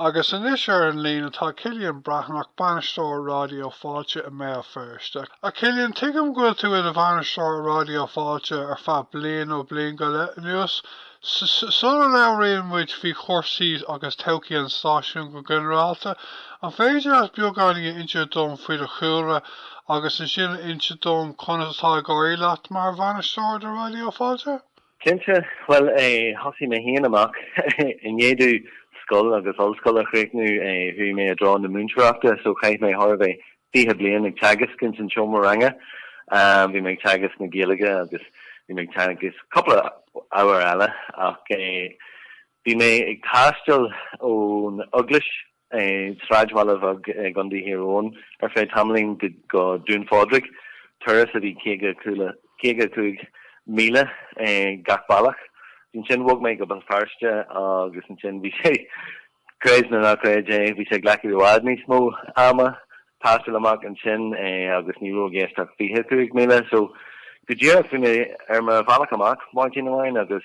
Agus anois ar an líne tá Cillian Breathnach, Bainisteoir Raidió Fáilte i mBéal Feirste. A Chillian, tuigim go bhfuil tú i do Bhainisteoir Raidió Fáilte ar feadh bliain nó bliain go leith anuas. Sula labhraíonn muid faoi chúrsaí agus todhchaí an stáisiúin go ginearálta, an féidir leat beagáinín a inse dom faoi do chúlra agus ansin a inse dom conas atá ag éirí leat mar Bhainisteoir do Raidió Fáilte? Cinnte, bhuel, thosaigh mé féin amach i ndiaidh domh scoil agus ollscoil a chríochnú, chuaigh mé i dtreo na múinteoireachta so chaith mé thar a bheith, fiche bliain ag teagasc ins an seomra ranga. Bhí mé ag teagasc na Gaeilge agus bhí mé ag teagasc cúpla ábhar eile ach bhí mé ag taisteal ón Eaglais sráidbhaile beag i gContae Thír Eoghain ar feadh tamaillín go Dún Phádraig, turas a bhí 55 míle gach bealach. Ansin bhog mé go Béal Feirste agus ansin sé, creid nó ná creid é, bhí sé ag glacadh i bhfad níos mó ama taisteal amach ansin agus ní raibh i gceist ach 25 míle. So, go díreach, bhí mé ar mo bhealach amach maidin amháin agus.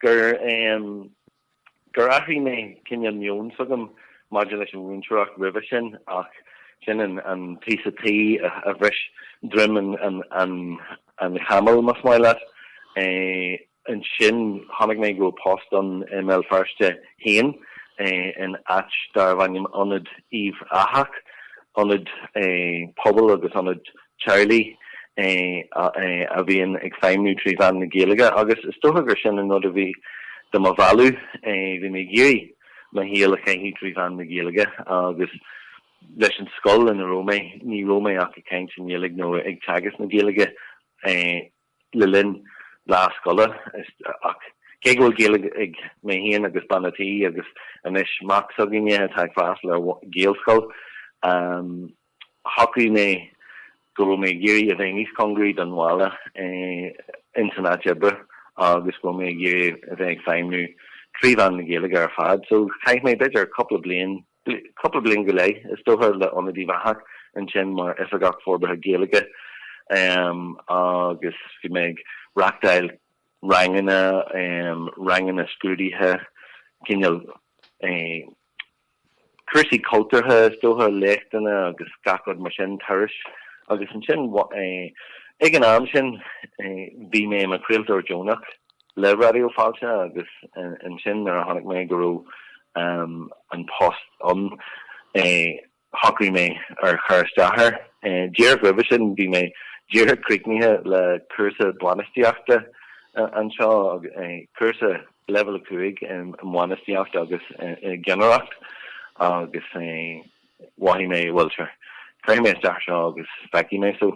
gur gur athraigh mé cineál meon s'agam maidir leis an mhúinteoireacht roimhe sin ach sin an an píosa taoi a bhris droim an an an an chamaill más maith leat. Ansin chonaic mé go raibh post ann i mBéal Feirste féin in áit darbh ainm Ionad Uíbh Eachach, ionad pobail agus ionad teaghlaigh a bhíonn ag feidhmniú trí mheán na Gaeilge agus is dócha gur sin an rud a bhí do mo mhealladh. Bhí mé ag iarraidh mo shaol a chaitheamh trí mheán na Gaeilge agus leis an scoil ina raibh mé, ní raibh mé ach ag caint i nGaeilge nó ag teagasc na Gaeilge le linn lá scoile. Ach cé go bhfuil Gaeilge ag mé féin agus bean a' tí agus anois mac s'againne atá ag freastal ar Ghaelscoil, Shocraigh mé go raibh mé ag iarraidh a bheith níos congaraí don bhaile insan áit oibre agus go raibh mé ag iarraidh a bheith ag feidhmniú trí mheán na Gaeilge ar fad. So chaith mé b'fhéidir cúpla bliain, cúpla bliain go leith is dócha, le Ionad Uíbh Eachach ansin mar Oifigeach Forbartha Gaeilge agus bhí mé ag reachtáil ranganna, ranganna scrúdaithe, cineál eh, Cúrsaí cultúrtha is dócha, léachtanna agus gach rud mar sin, turais. Agus ansin, ag an am sin, bhí mé i mo chraoltóir deonach le Raidió Fáilte agus ansin nuair a chonaic mé go raibh an post ann, shocraigh mé ar chur isteach air. Díreach roimhe sin, bhí mé díreach críochnaithe le cúrsa bainistíochta anseo, cúrsa. Leibhéal a 5, i mBainistíocht agus i gCeannaireacht agus mhothaigh mé, bhuel, sure, cuirfidh mé isteach air seo agus feicfidh mé. So,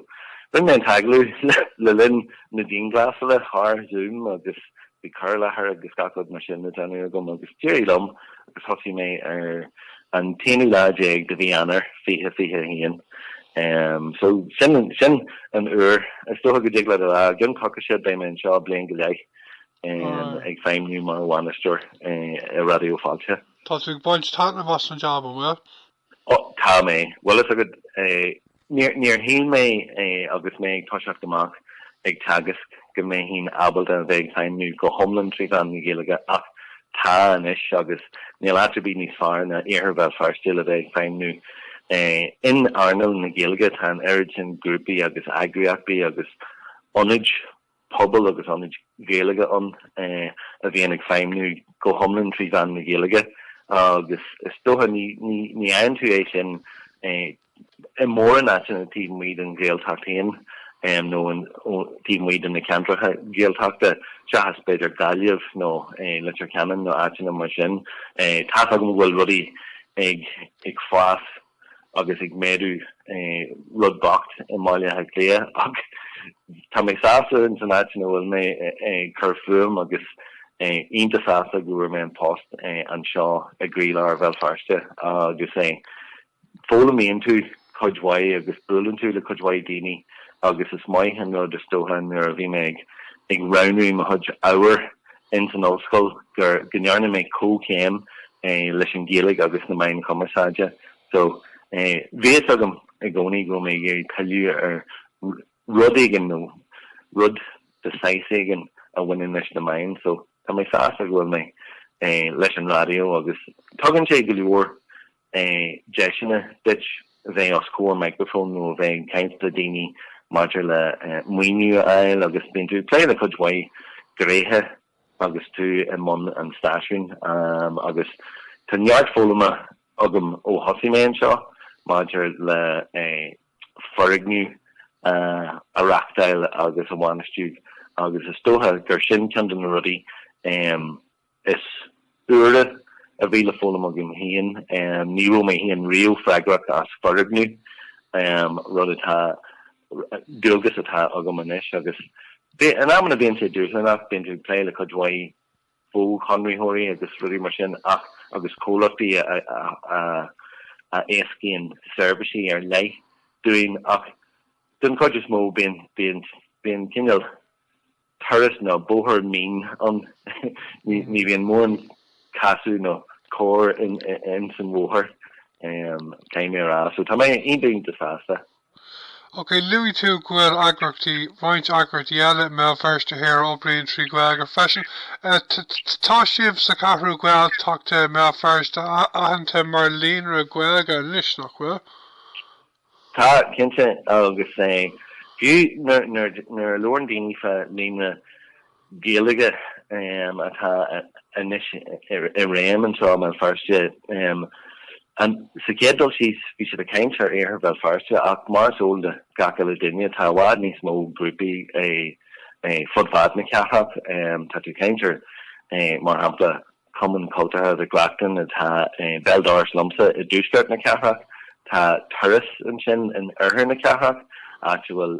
rinne mé an t-agallamh le linn na dianghlasála thar Zoom agus bhí cur i láthair agus gach rud mar sin le déanamh agam agus d'éirigh liom agus thosaigh mé ar an t-aonú lá déag de mhí Eanáir, 2021. Um, so, sin, sin an uair, is dócha go dtig leat a rá, i gcionn coicíse beidh mé anseo bliain go leith. ag feidhmniú mar bhainisteoir i Raidió Fáilte. Tá tú ag baint taitneamh as an jab, an bhfuil? Ó, tá mé. Bhfuil fhios agat, níor shíl mé agus mé ag toiseacht amach ag teagasc go mbeinn ábalta a bheith ag feidhmniú go hiomlán trí mheán na Gaeilge ach tá anois agus níl áit ar bith níos fearr ná Iarthar Bhéal Feirste le bheith ag feidhmniú in earnáil na Gaeilge. Tá an oiread sin grúpaí agus eagraíochtaí agus ionaid pobail agus ionaid Ghaeilge ann a bhíonn ag feidhmniú go hiomlán trí mheán na Gaeilge agus is dócha ní fhaigheann tú sin i mórán áiteanna taobh amuigh den Ghaeltacht féin nó taobh amuigh de na ceantracha Gaeltachta seachas b'fhéidir Gaillimh nó Leitir Ceanainn nó áiteanna mar sin. Tá's agam go bhfuil rudaí ag, ag fás agus ag méadú rud beag i mBaile Átha Cliath ach tá mé sásta in san áit ina bhfuil mé ag cur fúm agus iontach sásta go bhfuair mé an post anseo i gcroílár Bhéal Feirste agus eh foghlaimíonn tú cuid mhaith agus buaileann tú le cuid mhaith daoine agus is maith an rud is dócha nuair a bhí mé ag ag roghnú mo chuid ábhar ins an ollscoil gur, go ndearna mé comhchéim leis an Ghaeilge agus na Meáin Chumarsáide so bhí fhios agam i gcónaí go raibh mé ag iarraidh pilleadh ar rud éigin nó rud de shaghas éigin a bhaineann leis na meáin so tá mé sásta go bhfuil mé leis an raidió agus tugann sé go leor eh deiseanna duit a bheith os comhair micreafón nó a bheith ag caint le daoine maidir le maoiniú a fháil agus bíonn tú ag plé le cuid mhaith gréithe agus tú i mbun an stáisiúin agus tá neart foghlama agam ó thosaigh mé anseo maidir le foirgneamh a reachtáil agus a bhainistiú agus is dócha gur sin ceann de na rudaí is úire a bhí le foghlaim agam féin, ní raibh mé féin riamh freagrach as foirgneamh, rud atá, dualgas atá agam anois agus in amanna bíonn sé dúshlánach, bíonn tú ag plé le cuid mhaith fó-chonraitheoirí agus rudaí mar sin ach, agus comhlachtaí a éascaíonn seirbhísí ar leith dúinn ach den chuid is mó bíonn, bíonn cineál. turas nó bóthar mín ann. Ní bhíonn mórán casadh nó cor ins an bhóthar, caithfidh mé a rá, so tá mé iontach, iontach sásta. Ok, luaigh tú go bhfuil eagraíochtaí, roinnt eagraíochtaí eile i mBéal Feirste Thoir a obríonn trí Ghaeilge freisin. Tá sibh sa Cheathrú Ghaeltachta i mBéal Feirste aitheanta mar Líonra Gaeilge anois, nach bhfuil? Tá, cinnte, agus fiú nuair a labhrann daoine fá líonra Gaeilge atá anois i réim anseo i mBéal Feirste, sa chéad dul síos, bhí siad ag caint ar Iarthar Bhéal Feirste ach mar is eol do gach uile duine, tá i bhfad níos mó grúpaí fud fad na cathrach. Tá tú ag caint ar, mar shampla, Cumann Cultúrtha Mhic Reachtain atá i mbéal dorais liomsa i dtuaisceart na cathrach. Tá Turas ansin in oirthear na cathrach, áit a bhfuil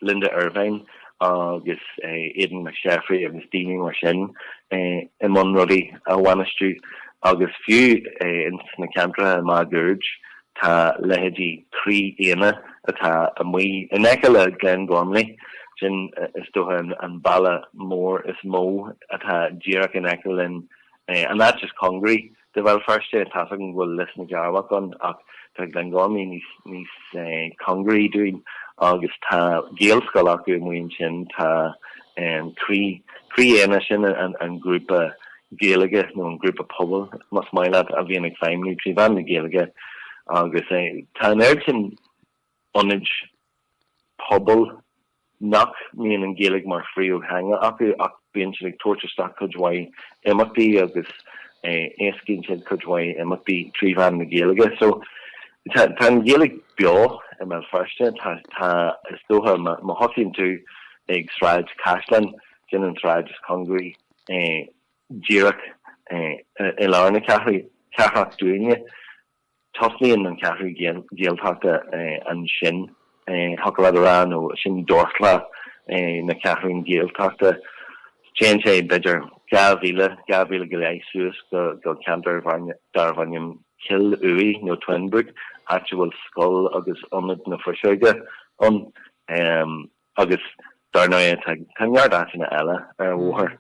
Linda Ervine agus Aodán Mac Séafraidh agus daoine mar sin i mbun rudaí a bhainistiú. Agus fiú ins na ceantracha máguaird, Tá leithéidí 'Croí Éanna', atá amuigh in aice le Glengormley, sin is dócha an baile mór is mó atá díreach in aice linn, an áit is cóngaraí do Bhéal Feirste, tá's agam go bhfuil Lios na gCearrbhach ann ach tá Glengormley níos cóngaraí dúinn agus tá Gaelscoil acu amuigh ansin, tá Croí Éanna, sin an grúpa Gaeilge nó an grúpa pobail, más maith leat, a bhíonn ag feidhmniú trí mheán na Gaeilge agus tá an oiread sin ionaid pobail nach mbíonn an Ghaeilge mar phríomhtheanga acu ach bíonn siad ag tabhairt isteach cuid mhaith imeachtaí agus éascaíonn siad cuid mhaith imeachtaí trí mheán na Gaeilge. So tá an Ghaeilge beo i mBéal Feirste, tá is dócha má thosaíonn tú ag Sráid Chaisleáin, sin an tsráid is cóngaraí díreach i lár na cathrach dúinne. Tosnaíonn an ceathrú Gaeltachta ansin thiocfadh leat a rá nó sin dorchla na ceathrún Gaeltachta. Téann sé b'fhéidir dhá mhíle dhá mhíle go leith suas go ceantar darb ainm Cill Uaighe nó Twinbrook, áit a bhfuil scoil agus Ionad na Fuiseoige ann. Agus dar ndóigh tá neart áiteanna eile ar an bhóthar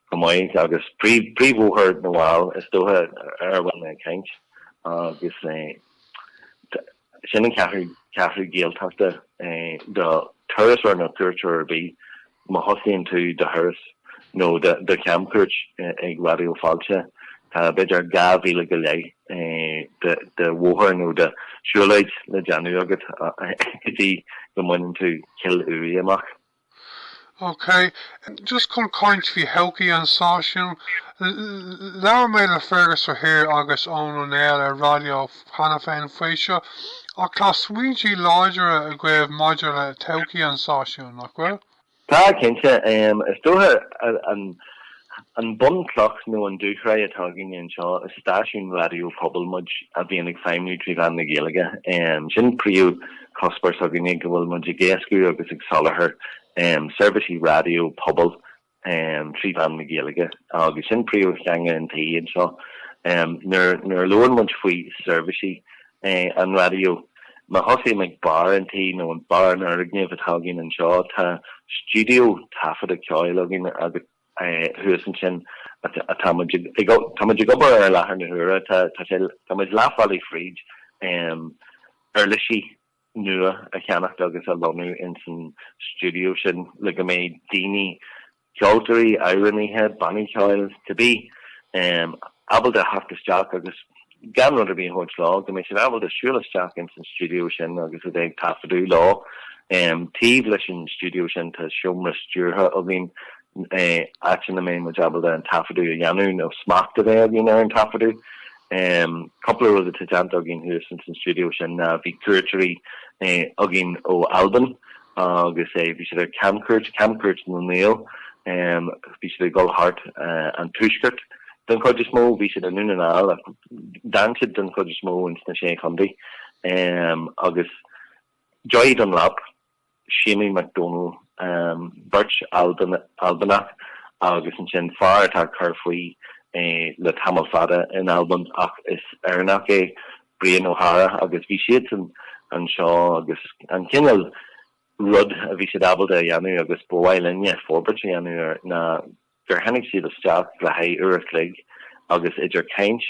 chomh maith agus príomhbhóthar na bhFál is dócha ar a bhfuil mé ag caint agus sin an ceathrú Gaeltachta do thurasóir nó cuairteoir ar bith má thosaíonn tú do thuras. nó de chamchuairt ag Raidió Fáilte, tá b'fhéidir dhá mhíle go leith de bhóthar nó de shiúlóid le déanamh agat go dtí go mbaineann tú Cill Uaighe amach. OK, just chun caint faoi thodhchaí an stáisiúin, labhair mé le Fergus Ó hÍr agus Eoin Ó Néill ar raidió cheana féin faoi seo, ach tá smaointí láidire agaibh maidir le todhchaí an stáisiúin, nach bhfuil? Tá, cinnte. Is dócha an bhunchloch nó an dúshraith atá againne anseo, is stáisiún raidió pobail muid a bhíonn ag feidhmiú trí mheán na Gaeilge. Sin príomhchuspóir s'againne, go bhfuil muid ag éascú agus ag soláthar seirbhísí raidió pobail trí mheán na Gaeilge agus sin príomhtheanga an tí anseo. Nuair a labhrann muid faoi sheirbhísí an raidió. Má thosaím ag barr an tí, nó an barr an fhoirgnimh atá againn anseo, tá stiúideo taifeadta ceoil againn thuas ansin. Tá muid ag obair air i láthair na huaire. Tá sé, tá muid leath bealaigh fríd uirlisí nua a cheannacht agus a lonnú insan stiúideo sin le go mbeidh daoine ceoltóirí, amhránaithe, bannaí ceoil, cibé, em, ábalta a theacht isteach agus gan rud ar bith a thabhairt leo, go mbeidh siad ábalta siúl isteach ins an stiúideo sin agus a bheith ag taifeadadh leo. Em, taobh leis an stiúideo sin tá seomra stiúrtha againn, eh, áit ina mbeidh muid ábalta an taifeadadh a dhéanamh nó smacht a bheith againn ar an taifeadadh. Em, cúpla rud atá déanta againn thuas ins an stiúideo sin ná bhí cuairteoirí, eh, againn ó Albain agus eh, bhí siad ar camchuairt, camchuairt na nGael, bhí siad ag dul thart an tuaisceart den chuid is mó, bhí siad i nDún na nGall ach d'fhan siad den chuid is mó ins na Sé Chontae agus Joy Dunlop, Séimí Mac Dónaill, beirt Albanach agus ansin fear atá ag cur faoi le tamall fada in Albain ach is Éireannach é Brian Ó hEadhra agus bhí siadsan anseo agus an cineál rud a bhí siad ábalta a dhéanamh agus ba mhaith linne forbairt a dhéanamh air ná gur tháinig siad isteach le haghaidh uair a chloig agus idir chaint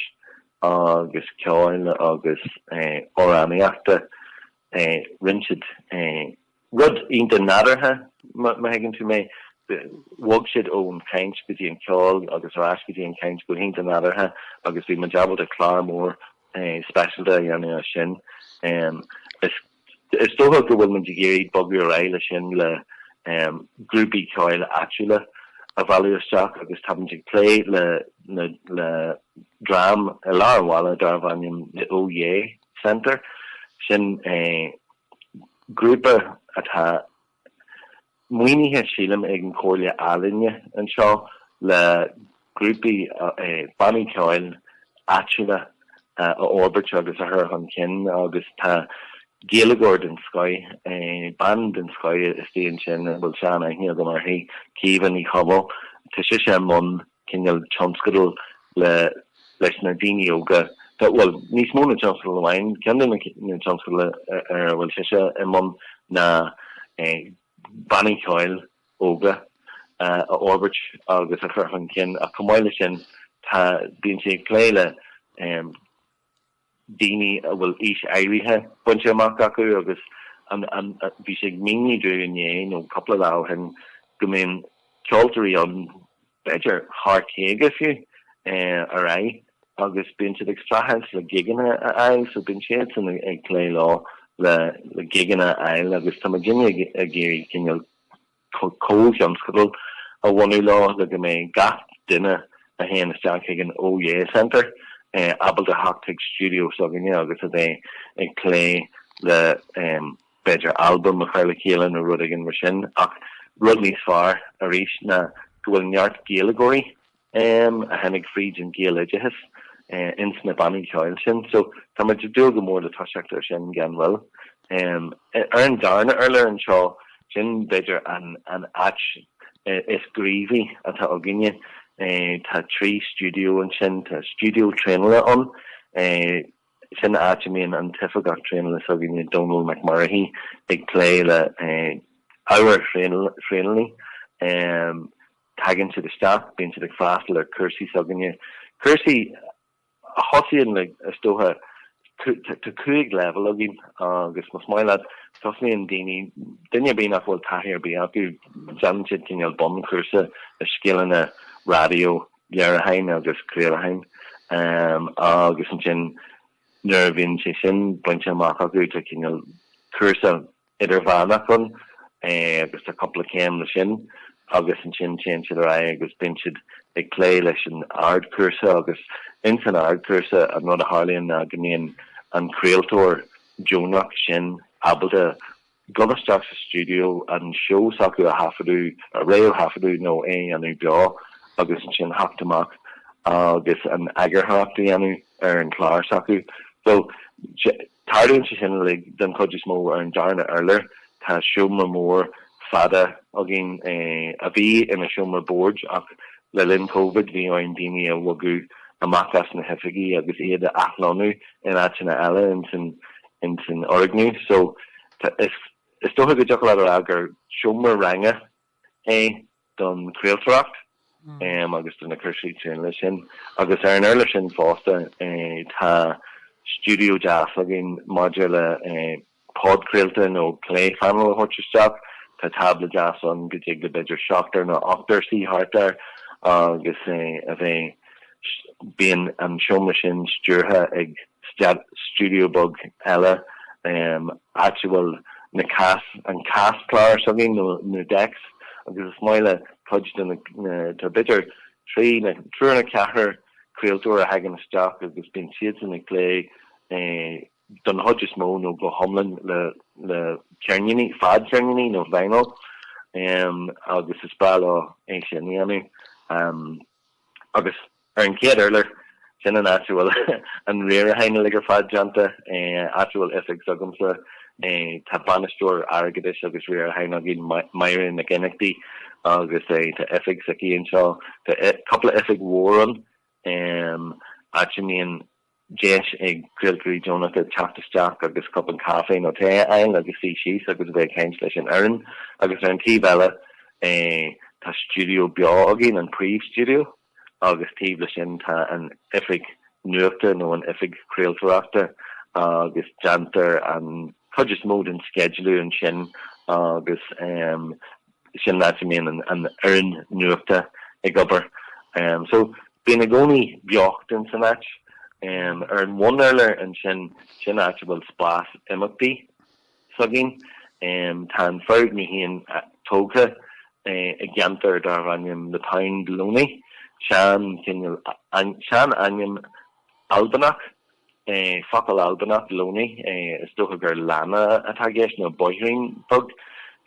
agus ceoil agus amhránaíochta rinne siad Rud iontach nádúrtha, má thuigeann tú mé. Bhog siad ón chaint go dtí an ceol agus ar ais go dtí an chaint go hiontach nádúrtha agus bhí muid ábalta clár mór speisialta a dhéanamh as sin. Is dócha go bhfuil muid ag iarraidh bogadh ar aghaidh leis sin le grúpaí ceoil áitiúla a mhealladh isteach agus tá muid ag plé le dream i lár an bhaile darbh ainm The Oh Yeah Centre. Sin. Grúpa atá maoinithe, sílim, ag an Chomhairle Ealaíon anseo le grúpaí, bannaí ceoil áitiúla a fhorbairt agus a chur chun cinn agus tá Gaeilgeoir den scoith, bean den scoith istigh ansin a bhfuil sean-aithne agam uirthi, Caoimhe Ní Chathail, tá sise i mbun. cineál tionscadal leis na daoine óga, bhuel, níos mó ná tionscadal amháin, ceann de na tionscadail ar a bhfuil sise i mbun ná bannaí ceoil óga a fhorbairt agus a chur chun cinn ach chomh maith leis sin tá, bíonn sí ag plé le daoine a bhfuil aois áirithe bainte amach acu agus bhí sí ag míniú dúinn inné nó cúpla lá ó shin go mbíonn ceoltóirí ann, b'fhéidir thar caoga fiú, ar aghaidh agus bíonn siad ag streachailt le gigeanna a fháil so bíonn siadsan ag plé leo le, le gigeanna a fháil agus tá muidinne ag iarraidh cineál, comhthionscadal a bhunú leo le go mbeidh gach duine a théann isteach chuig an Oh Yeah Centre ábalta theacht chuig stiúideo s'againne agus a bheith ag plé le b'fhéidir albam a chur le chéile nó rud éigin mar sin ach rud níos fearr arís ná go bhfuil neart Gaeilgeoirí a tháinig fríd an Ghaeloideachas ins na bannaí ceoil sin. So, tá muid ag dúil go mór le toiseacht ar sin gan mhoill. Ar an darna urlár anseo, sin b'fhéidir an áit is gníomhaí atá againne. Tá trí stiúideo ansin. Tá stiúideo traenála ann. Sin áit a mbíonn an t-oifigeach traenála s'againne, Dónal Mac Murchaidh, ag plé le ábhar traenálaí. Tagann siad isteach, bíonn siad ag freastal ar chúrsaí s'againne, cúrsaí a thosaíonn le, is dócha, tá cúig leibhéal againn agus más maith leat, tosaíonn daoine, duine ar bith nach bhfuil taithí ar bith acu, déanann siad cineál bunchúrsa i scileanna raidió, léiriúcháin agus craolacháin agus ansin nuair a bhíonn sé sin bainte amach acu, tá cineál cúrsa, idirmheánach ann agus tá cúpla céim leis sin agus ansin téann siad ar aghaidh agus bíonn siad ag plé leis an ardchúrsa agus insan ardchúrsa an rud a tharlaíonn ná go mbíonn an craoltóir deonach sin ábalta dul isteach sa stiúideo an seó s'acu a thaifeadadh, a réamhthaifeadadh nó é a dhéanamh beo agus ansin theacht amach agus an eagarthóireacht a dhéanamh ar an chlár s'acu. So, Tarlaíonn sé sin uilig, den chuid is mó, ar an darna urlár. Tá seomra mór fada againn, a bhí ina sheomra boird ach le linn Covid bhí orainn daoine a bhogadh amach as na hoifigí agus iad a athlonnú in áiteanna eile insan fhoirgneamh so is dócha go dtiocfadh leat a rá gur seomra ranga é don chraoltóireacht agus do na cúrsaí traenála sin. Agus ar an urlár sin fosta tá stiúideo deas againn maidir le podchraolta nó plé phainéil a thabhairt isteach. Tá tábla deas ann go dtig le b'fhéidir seachtar nó ochtar suí thart air agus é a bheith, bíonn an seomra sin stiúrtha ag stiúideo beag eile áit a bhfuil na cas, an caschlár s'againn nó na decks agus is maith le cuid de na, tá b'fhéidir trí, triúr nó ceathrar craoltóir a thagann isteach agus bíonn siadsan ag plé don chuid is mó nó go hiomlán le ceirníní, fadcheirníní nó vinyl agus is breá leo é sin a dhéanamh agus Ar an chéad urlár, sin an áit a bhfuil an riaracháin uilig ar fad déanta, áit a bhfuil oifig s'agamsa, tá bainisteoir airgeadais agus riaracháin againn, Máire Nic Fhionnachtaigh, agus tá oifig s'aici anseo. Tá cúpla oifig mhór ann, áit a mbíonn. deis ag craoltóirí deonacha teacht isteach agus cupán caife nó tae a fháil agus suí síos agus a bheith ag caint leis an fhoireann agus ar an taobh eile tá stiúideo beo againn, an príomhstiúideo, agus taobh leis sin tá an oifig nuachta nó an oifig chraoltóireachta agus déantar an chuid is mó den sceidealú ansin agus sin áit a mbíonn an fhoireann nuachta ag obair so bíonn i gcónaí beocht in san áit. Ar an bhunurlár ansin sin áit a bhfuil spás imeachtaí s'againn. Tá an foirgneamh é féin tógtha i gceantar darbh ainm The Pound Loney, cineál sean-ainm Albanach. Focal Albanach, loney, is dócha gur lána atá i gceist, nó bóithrín beag,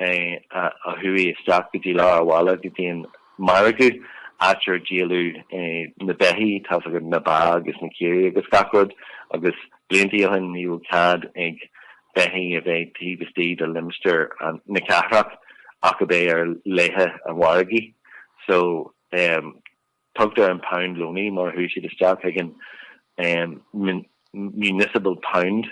a chuaigh isteach go dtí lár an bhaile go dtí an margadh, áit ar díoladh na beithí, tá a fhios agat na ba agus na caoirigh agus gach rud, agus blianta ó shin ní raibh cead ag beithí a bheith taobh istigh de limistéar na cathrach ach ab é ar laethe an mhargaidh. So, Tugtar an Pound Loney mar a chuaigh siad isteach chuig an municipal pound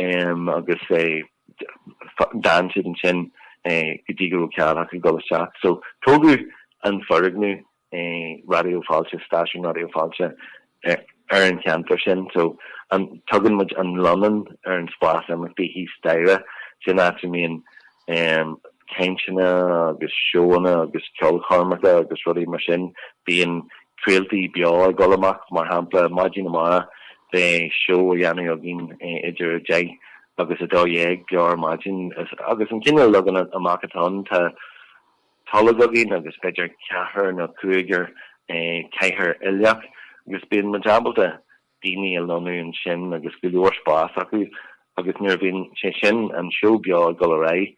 agus d'fhan siad ansin go dtí go raibh cead acu dul isteach. So tógadh an foirgneamh Raidió Fáilte, Stáisiún Raidió Fáilte, ar an cheantar sin. So tugann muid an Lonnán ar an spás imeachtaí thíos staighre, sin áit a mbíonn cainteanna agus seóanna agus ceolchoirmeacha agus rudaí mar sin. Bíonn craoltaí beo ag dul amach, mar shampla, maidin amárach beidh seó á dhéanamh againn idir a deich agus a dó dhéag beo ar maidin agus an cineál leagan amach atá ann tá tolg againn agus b'fhéidir ceathrar nó cúigear cathaoir uilleach agus bíonn muid ábalta daoine a lonnú ansin agus go leor spás acu agus nuair a bhíonn, sé sin, an seó beo ag dul ar aghaidh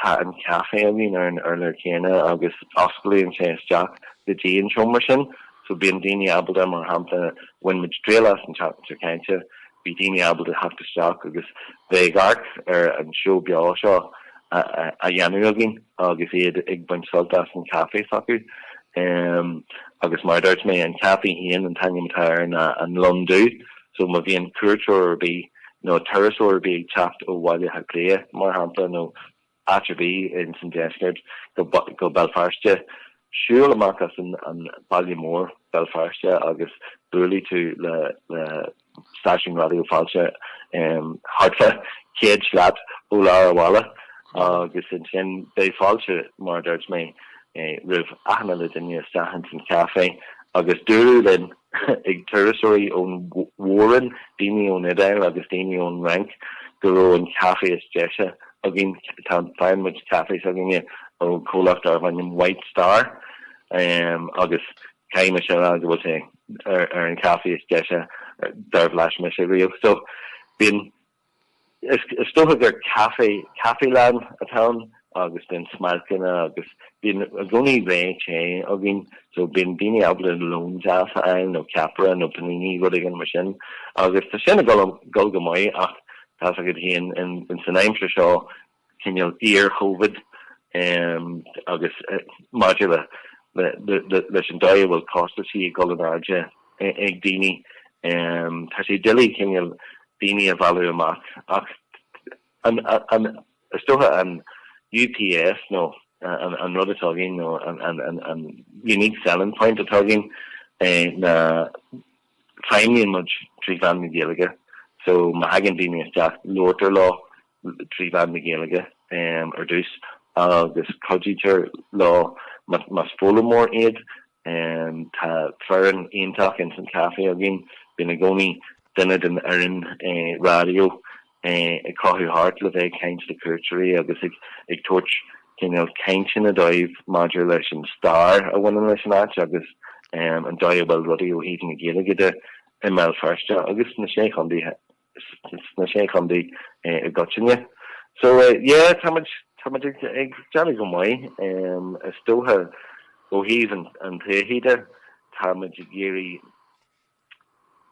tá an caifé a bhíonn ar an urlár céanna agus osclaíonn sé isteach go dtí an seomra sin so bíonn daoine ábalta, mar shampla, bhain muid triail as an tseachtain seo caite, bhí daoine ábalta theacht isteach agus bheith ag amharc ar an seó beo seo á dhéanamh againn. agus iad ag baint sult as an chaife s'acu agus mar a dúirt mé an caifé féin an t-ainm atá air ná an Lon Dubh so má bhíonn cuairteoir ar bith nó turasóir ar bith ag teacht ó Bhaile Átha Cliath mar shampla nó áit ar bith ins an deisceart go Béal Feirste siúil amach as an baile mór Béal Feirste agus buailfidh tú le stáisiún Raidió Fáilte thart fá chéad slat ó lár a' bhaile agus ansin beidh fáilte, mar a dúirt mé, roimh achan uile duine isteach ins an chaifé agus dúradh linn ag turasóirí ón mhór-roinn, daoine ón Iodáil agus daoine ón Fhrainc go raibh an caife is deise againn, tá, faigheann muid caife s'againne ó chomhlacht darbh ainm White Star agus caithfidh mise a rá go bhfuil sé ar an chaife is deise dár bhlais mise riamh. So bíonn, is dócha gur caifé, caifelann atá ann agus bíonn smailceanna agus bíonn i gcónaí rogha te againn. So bíonn daoine ábalta lón deas a fháil nó ceapaire nó panini, rud éigin mar sin. Agus tá sin ag dul go maith ach, tá fhios agad fhéin, in, san aimsir seo cineál iar-Chovid agus maidir leis an dóigh a bhfuil costaisí ag dul in airde ag daoine, tá sé doiligh cineál daoine a mhealladh amach ach an, is dócha an UPS nó an rud atá againn nó an unique selling point atá againn ná feidhmíonn muid trí mheán na Gaeilge so má thagann daoine isteach labhartar leo trí mheán na Gaeilge ar dtús agus cuidítear leo más foghlaimeoir iad. Tá foireann iontach ins an chaifé againn. Bíonn i gcónaí duine den fhoireann raidió ag crochadh thart le bheith ag caint le cuairteoirí agus ag tabhairt cineál cainteanna dóibh maidir leis an stair a bhaineann leis an áit agus an dóigh a bhfuil rudaí ó thaobh na Gaeilge de i mBéal Feirste agus sna Sé Chontae. sna Sé Chontae i gcoitinne. So yeah, tá muid, tá muid ag déanamh go maith. Is dócha ó thaobh an todhchaí de, tá muid ag iarraidh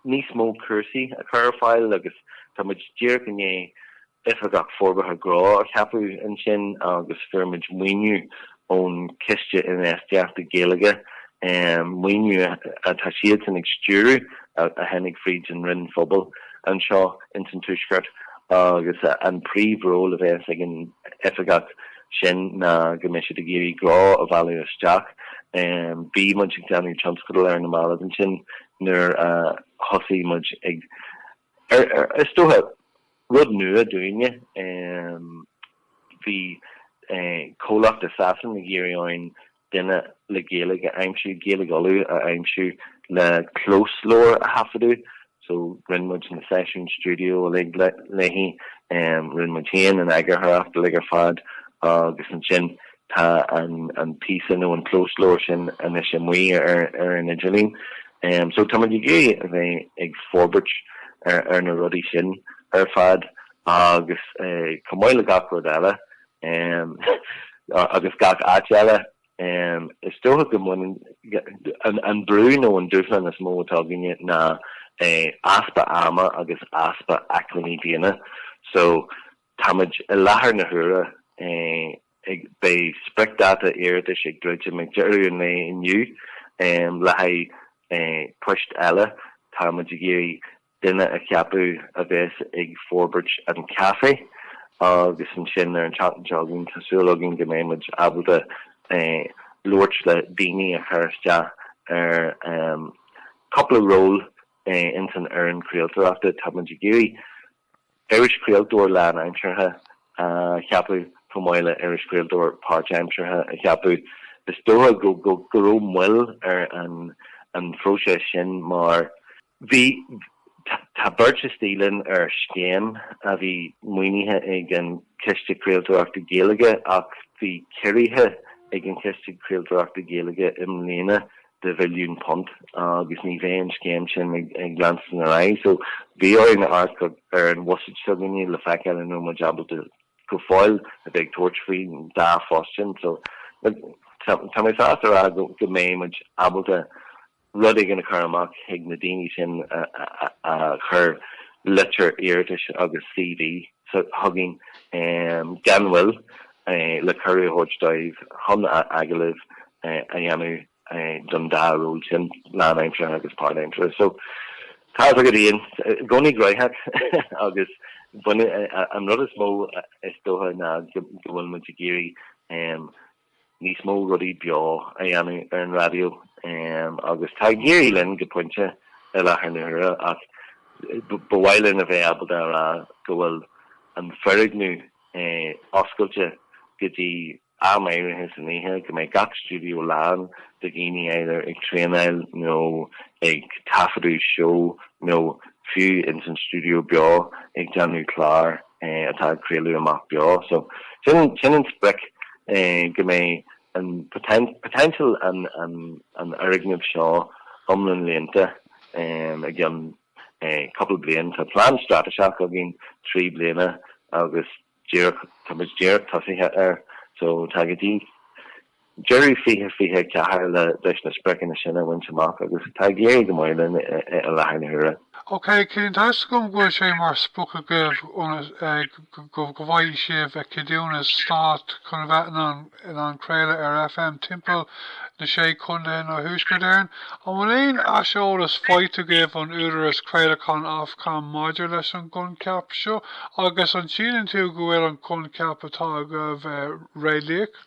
níos mó cúrsaí a chur ar fáil agus tá muid díreach i ndiaidh Oifigeach Forbartha Gnó a cheapadh ansin agus fuair muid maoiniú ón Chiste Infheistíochta Gaeilge, maoiniú atá siadsan ag stiúradh a tháinig fríd an Roinn Phobail anseo ins an Tuaisceart agus an príomhról a bheas ag an oifigeach sin ná go mbeidh siad ag iarraidh gnó a mhealladh isteach. Bhí muid ag déanamh tionscadal ar na mallaibh ansin nuair a thosaigh muid ag. Is dócha, rud nua dúinne, bhí comhlacht i Sasana ag iarraidh orainn duine le Gaeilge a aimsiú, Gaeilge Uladh a aimsiú le closleabhar a thaifeadadh. So, rinne muid na seisiúin stiúideo uilig léi, rinne muid féin an eagarthóireacht uilig ar fad agus ansin Tá an píosa nó an closleabhar sin anois amuigh ar an idirlíon so tá muid ag iarraidh a bheith ag forbairt ar na rudaí sin ar fad agus chomh maith le gach rud eile agus gach áit eile is dócha go mbaineann an brú nó an dúshlán is mó atá againne ná easpa ama agus easpa acmhainní daonna so Táimid i láthair na huaire ag. Beidh spriocdháta iarratais ag druidim ag deireadh an lae inniu le haghaidh poist eile. Tá muid ag iarraidh duine a cheapadh a bheas ag forbairt an caifé agus ansin ar an tseachtain seo chugainn tá súil againn go mbeidh muid ábalta labhairt le daoine a chuir isteach ar chúpla ról ins an fhoireann chraoltóireachta. Tá muid ag iarraidh. Iris Craoltóir lánaimseartha a cheapadh chomh maith le Iris Craoltóir páirtaimseartha a cheapadh. Is dócha go raibh moill ar an phróiseas sin mar bhí tá beirt istigh linn ar scéim a bhí maoinithe ag an Chiste Craoltóireachta Gaeilge ach bhí ciorruithe ag an Chiste Craoltóireachta Gaeilge i mbliana de mhilliún punt agus ní bheidh an scéim sin ag leanstan ar aghaidh. So, bhí orainn amharc ar an bhuiséad seo againne le feiceáil an raibh muid ábalta go fóill a bheith ag tabhairt faoi an dá phost sin. So, look, tá mé sásta a rá go mbeidh muid ábalta rud éigin a chur amach chuig na daoine sin a chur litir iarratais agus CV chugainn gan mhoill le cuireadh a thabhairt dóibh chun agallaimh a dhéanamh don dá ról sin, lánaimseartha agus páirtaimseartha. So, tá's agat féin, i gcónaí graitheach agus baineann an rud is mó is dócha ná go bhfuil muid ag iarraidh níos mó rudaí beo a dhéanamh ar an raidió agus tá ag éirí linn go pointe i láthair na huaire ach ba mhaith linn a bheith ábalta a rá go bhfuil an foirgneamh oscailte go dtí am áirithe san oíche, go mbeidh gach stiúideo lán de dhaoine either ag traenáil nó ag taifeadadh seó nó fiú ins an stiúideo beo ag déanamh clár. atá ag craoladh amach beo. So sin an sprioc go mbeidh an potential an fhoirgnimh seo iomlán líonta i gcionn cúpla bliain. Tá plean straitéiseach againn trí bliana agus tá muid díreach tosaithe air. So tá go dtí deireadh 2024 leis na spriocanna sin a bhaint amach agus tá ag éirí go maith linn i láthair na huaire. OK, cionn tá's agam go bhfuil sé mar sprioc agaibh go bhfaighidh sibh ceadúnas stáit chun a bheith in ann craoladh ar FM timpeall na Sé Chontae nó Thuaisceart Éireann? An bhfuil aon aiseolas faighte agaibh ón Údarás Craolacháin Ofcom maidir leis an gcoincheap seo agus an síleann tú go bhfuil an coincheap atá agaibh réalaíoch?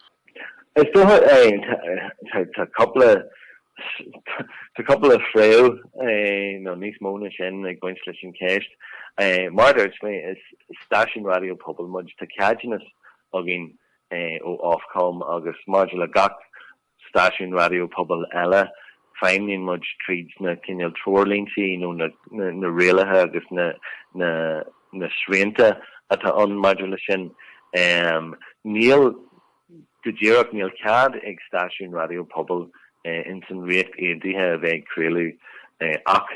Is dócha é. Tá cúpla Tá cúpla fréamh nó níos mó na sin ag baint leis an cheist. Mar dúirt mé is stáisiún raidió pobail muid, tá ceadúnas againn ó Ofcom agus maidir le gach stáisiún raidió pobail eile Feidhmníonn muid tríd na cineál treoirlínte nó na rialacha agus na srianta atá ann maidir leis sin. Níl, go díreach, níl cead ag stáisiúin raidió pobail ins an Ríocht Aontaithe a bheith ag craoladh ach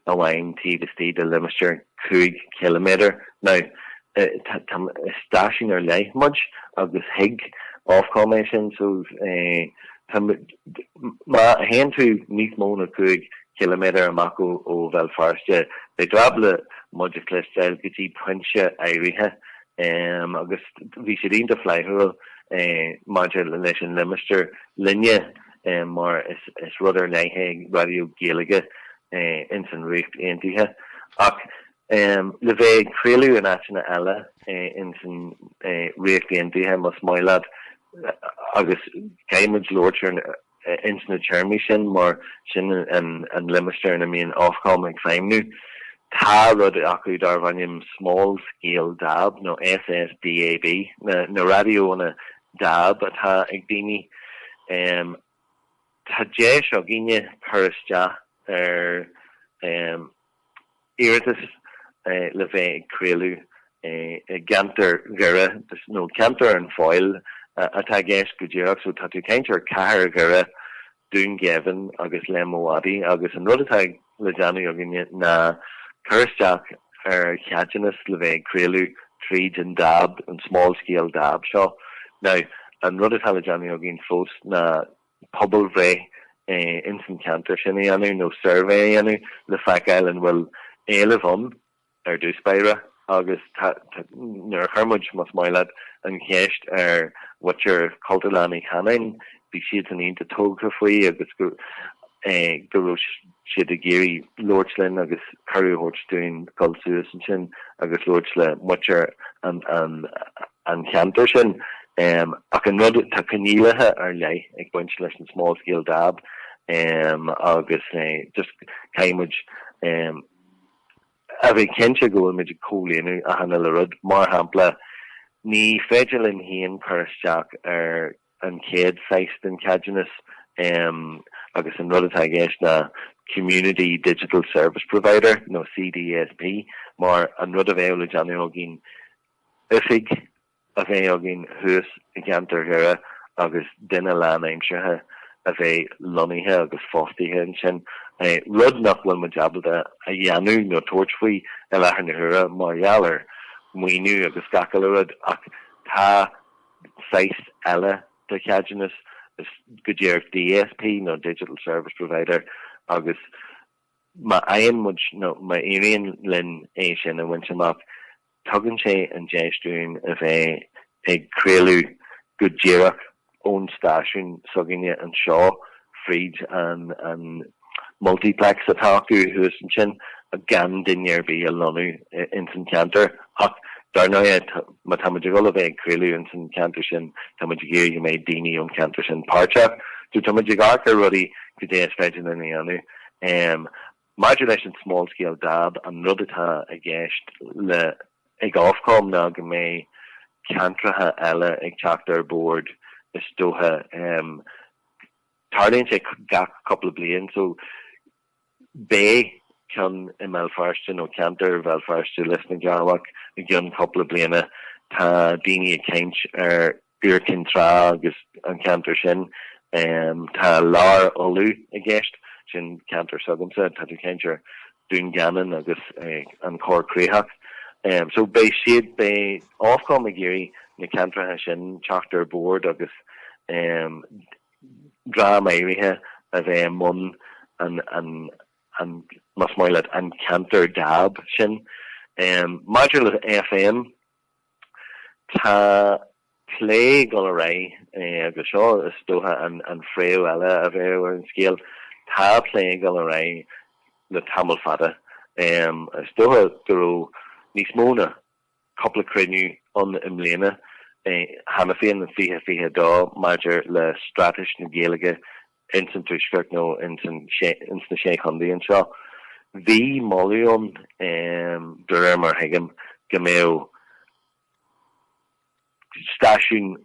amháin taobh istigh de limistéar cúig chiliméadar. Now, tá, is stáisiún ar leith muid agus thuig Ofcom é sin so tá, má théann tú níos mó ná cúig chiliméadar amach ó Bhéal Feirste, beidh tú ábalta muid a chloisteáil go dtí pointe áirithe agus bhí siad iontach flaithiúil maidir leis an limistéar linne. mar is rud ar leith é raidió Gaeilge é ins an Ríocht Aontaithe, ach le bheith ag craoladh in áiteanna eile ins an Ríocht Aontaithe, más maith leat, agus caithfidh muid labhairt ins na téarmaí sin mar sin an limistéar ina mbíonn Ofcom ag feidhmniú, tá rud acu darbh ainm small scale dab nó SSDAB, na raidiónna dab atá ag daoine. Tá deis againne cur isteach ar iarratas le bheith ag craoladh i gceantar Dhoire, nó ceantar an Fheabhail atá i gceist go díreach, so tá tú ag caint ar chathair Dhoire, Dún Geimhin agus Léim an Mhadaidh agus an rud atá ag. le déanamh againne ná cur isteach ar cheadúnas le bheith ag craoladh tríd an dab, an small scale dab seo. Now, an rud atá le déanamh againn fós ná pobalbhreith ins an cheantar sin a dhéanamh nó suirbhé a dhéanamh le feiceáil an bhfuil éileamh ann. ar dtús báire agus nuair a chuir muid, más maith leat, an cheist ar mhuintir Chultúrlann Uí Chanáin, bhí siad an-iontach tógtha faoi agus go raibh siad ag iarraidh labhairt linn agus cuireadh a thabhairt dúinn dul suas ansin agus labhairt le muintir an cheantair sin. Ach an rud, tá coinníollacha ar leith ag baint leis an small scale dab agus just caithfidh muid, a bheith cinnte go bhfuil muid ag comhlíonadh achan uile rud. Mar shampla, ní féidir linn féin cur isteach ar an chéad saghas den cheadúnas agus an rud atá i gceist ná Community Digital Service Provider nó CDSP mar an rud a bheadh le déanamh againn oifig a bheith againn thuas i gceantar Dhoire agus duine lánaimseartha a bheith lonnaithe agus fostaithe ansin, rud nach bhfuil muid ábalta a dhéanamh nó tabhairt faoi i láthair na huaire mar gheall ar mhaoiniú agus gach uile rud. Ach tá saghas eile de cheadúnas, is go díreach DSP nó Digital Service Provider agus má fhaigheann muid nó má éiríonn linn é sin a bhaint amach, Tugann sé an deis dúinn a bheith ag craoladh go díreach ón stáisiún s'againne anseo fríd an multiplex atá acu thuas ansin gan duine ar bith a lonnú ins an cheantar ach dar ndóighe má tá muid ag dul a bheith ag craoladh ins an cheantar sin tá muid ag iarraidh go mbeidh daoine ón cheantar sin páirteach so tá muid ag amharc ar rudaí goidé is féidir linn a dhéanamh. Maidir leis an 'small scale dab', an rud atá i gceist le 'ag Ofcom' ná go mbeidh ceantracha eile ag teacht ar bord is dócha. Tarlaíonn sé gach cúpla bliain so beidh ceann i mBéal Feirste nó ceantar Bhéal Feirste, Lios na gCearrbhach i gceann cúpla bliana. Tá daoine ag caint ar Iúr Cinn Trá agus an ceantar sin. Tá Lár Uladh i gceist, sin ceantar s'agamsa, tá tú ag caint ar Dún Geanainn agus an Chorr Chríochach. So beidh siad, beidh Ofcom ag iarraidh na ceantracha sin teacht ar bord agus dream áirithe a bheith i mbun an, más maith leat, an ceantar dab sin. Maidir le FM, Tá plé ag dul ar aghaidh, agus seo is dócha an phréamh eile a bheadh ar an scéal, tá plé ag dul ar aghaidh le tamall fada, is dócha go raibh níos mó ná cúpla cruinniú ann i mbliana cheana féin in 2022, maidir le straitéis na Gaeilge ins an Tuaisceart nó ins na Sé Chondae anseo. Bhí moladh ann, de réir mar thuigim, go mbeadh stáisiún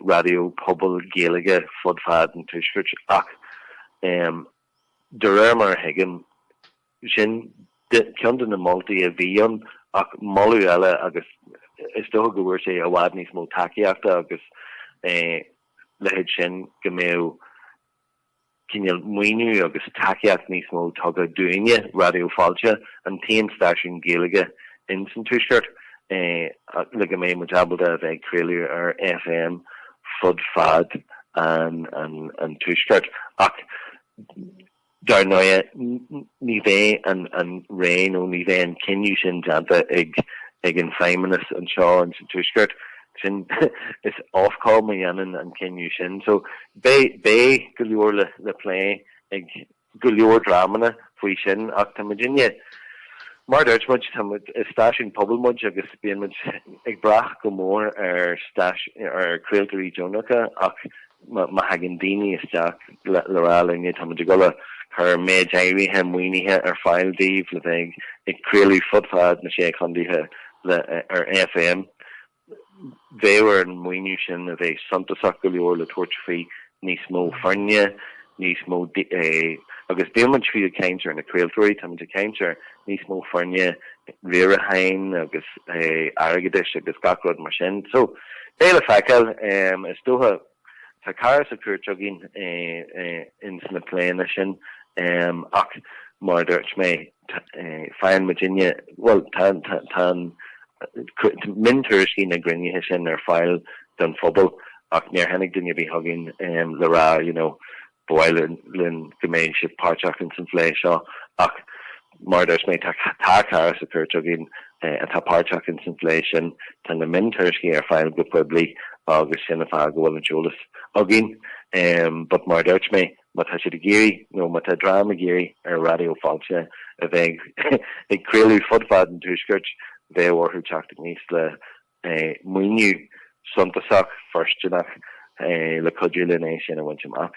raidió pobail Gaeilge fud fad an Tuaiscirt ach, de réir mar a thuigim, Sin ceann de na moltaí a bhí ann ach moladh eile agus is dócha go bhfuair sé i bhfad níos mó tacaíochta agus a leithéid sin, go mbeadh cineál maoiniú agus tacaíocht níos mó tugtha dúinne, Raidió Fáilte, an t-aon stáisiún Gaeilge in san Tuaisceart, le go mbeidh muid ábalta a bheith ag craoladh ar FM fud fad an Tuaiscirt. Ach. Dar ndóigh, ní bheidh an roinn nó ní bheidh an cinneadh sin déanta ag an Feidhmeannas anseo in sa Tuaisceart. Sin, is Ofcom a dhéanann an cinneadh sin. So, beidh go leor le plé ag go leor dreamanna faoi sin ach tá muidinne, mar a dúirt muid, is stáisiún pobail muid agus bíonn muid ag brath go mór ar chraoltóirí deonacha ach Má thagann daoine isteach le rá linne, táimid ag dul a chur méid áirithe maoinithe ar fáil daoibh le bheith ag craoladh fud fad na sé chontaetha ar FM. Bheadh ar an maoiniú sin a bheith suntasach go leor le tabhairt faoi níos mó foirne, níos mó, agus níl muid fiú ag caint ar na craoltóirí, táimid ag caint ar níos mó foirne riaracháin agus airgeadais agus gach rud mar sin. So, beidh le feiceáil, is dócha. Tá cara sa chúirt againn ins na pléanna sin ach mar a dúirt mé, faigheann muidinne, bhuel, tá an miontuairiscí na gcruinnithe sin ar fáil don phobal ach níor tháinig duine ar bith chugainn le rá, you know, Ba mhaith linn go mbeidh sibh páirteach ins an phlé seo ach mar a dúirt mé tá cara sa chúirt againn atá páirteach ins an phlé sin. Tá na miontuairiscí ar fáil go poiblí agus sin an fáth go bhfuil an t-eolas againn but mar a dúirt mé má tá siad ag iarraidh nó má tá dream ag iarraidh ar Raidió Fáilte a bheith ag craoladh fud fad an tuaiscirt bheadh orthu teacht aníos le maoiniú suntasach fóirsteanach le cuidiú linn é sin a bhaint amach.